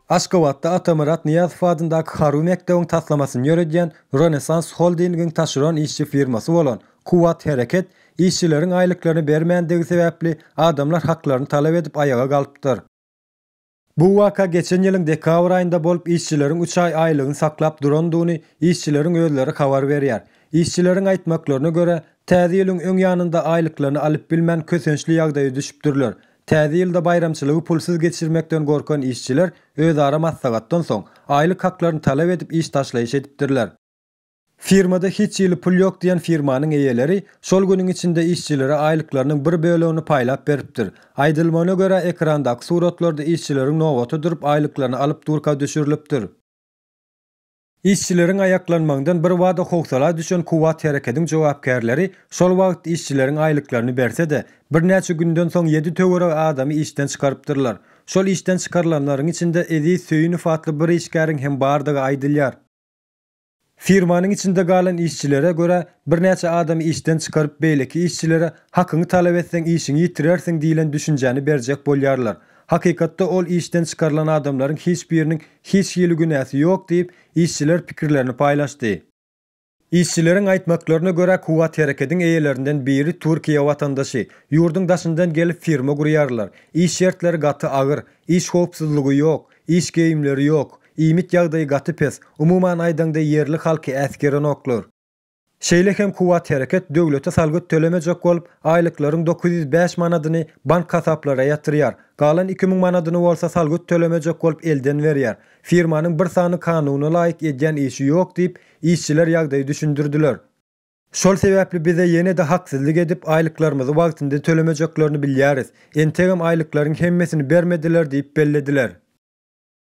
Aşgabatda Atamyrat Nyýazow adyndaky harby mekdebiň taslamasyny ýöredýän Rönesans Holdingiň taşeron işçi firmasy bolan Kuwwat Hereket işçileriň aýlyklaryny bermändigi sebäpli adamlar haklaryny talap edip aýaga galypdyr. Bu waka geçen ýylyň dekabr aýynda bolup, işçileriň üç aý aýlygyny saklap durandygyny işçileriň özleri habar berýär. Işçileriň aýtmaklaryna görä, Täze ýylyň öň ýanynda aýlyklaryny alyp bilmän kösençli ýagdaýa düşüpdirler. Täze ýylda baýramçylygy pulsuz geçirmekden gorkan işçiler özara maslahatdan soň, aýlyk haklaryny talap edip iş taşlaýyş edipdirler. Firmada hiç hili pul ýok diýen firmanyň eýeleri şol günüň içinde işçilere aýlyklarynyň bir bölegini paýlap beripdir. Aýdylmagyna görä, ekrandaky suratlarda işçileriň nobata durup aýlyklaryny alyp durka düşürilipdir. Işçileriň aýaklanmagyndan birbada howsala düşen Kuwwat Herekediň jogapkärleri şol wagt işçileriň aýlyklaryny berse-de, birnäçe günden soň ýedi töweregi adamy işden çykarypdyrlar. Şol işden çykarylanlaryň içinde Eziz Söýünow atly bir işgäriň hem bardygy aýdylýar. Firmanyň içinde galan işçilere görä, birnäçe adamy işden çykaryp, beýleki işçilere Hakyňy talap etseň, işiňi ýitirersiň diýlen düşünjäni berjek bolýarlar. Hakykatda ol işden çykarylan adamlaryň hiç biriniň hiç hili günäsi ýok diýip, işçiler pikirlerini paýlaşdy. Işçileriň aýtmaklaryna görä, Kuwwat Herekediň eýelerinden biri Türkiýe watandaşy. Ýurduň daşyndan gelip firma gurýarlar. Iş şertleri gaty agyr. Iş howpsuzlygy ýok. Iş geýimleri ýok. Iýmit ýagdaýy gaty pes, umuman aýdaňda ýerli halky äsgerenoklar. Şeýle hem Kuwwathäreket döwlete salgyt tölemejek bolup, aýlyklaryň dokuz ýüz bäş manadyny bank hasaplara ýatyrýar, galan iki müň manadyny bolsa salgyt tölemejek bolup elden berýär. Firmanyň bir sany kanuna laýyk edýän işi ýok diýip, işçiler ýagdaýy düşündirdiler. Şol sebäpli bize ýene-de haksyzlyk edip, aýlyklarymyzy wagtynda tölemejeklerini bilýäris. Entegem aýlyklaryň hemmesini bermediler diýip bellediler.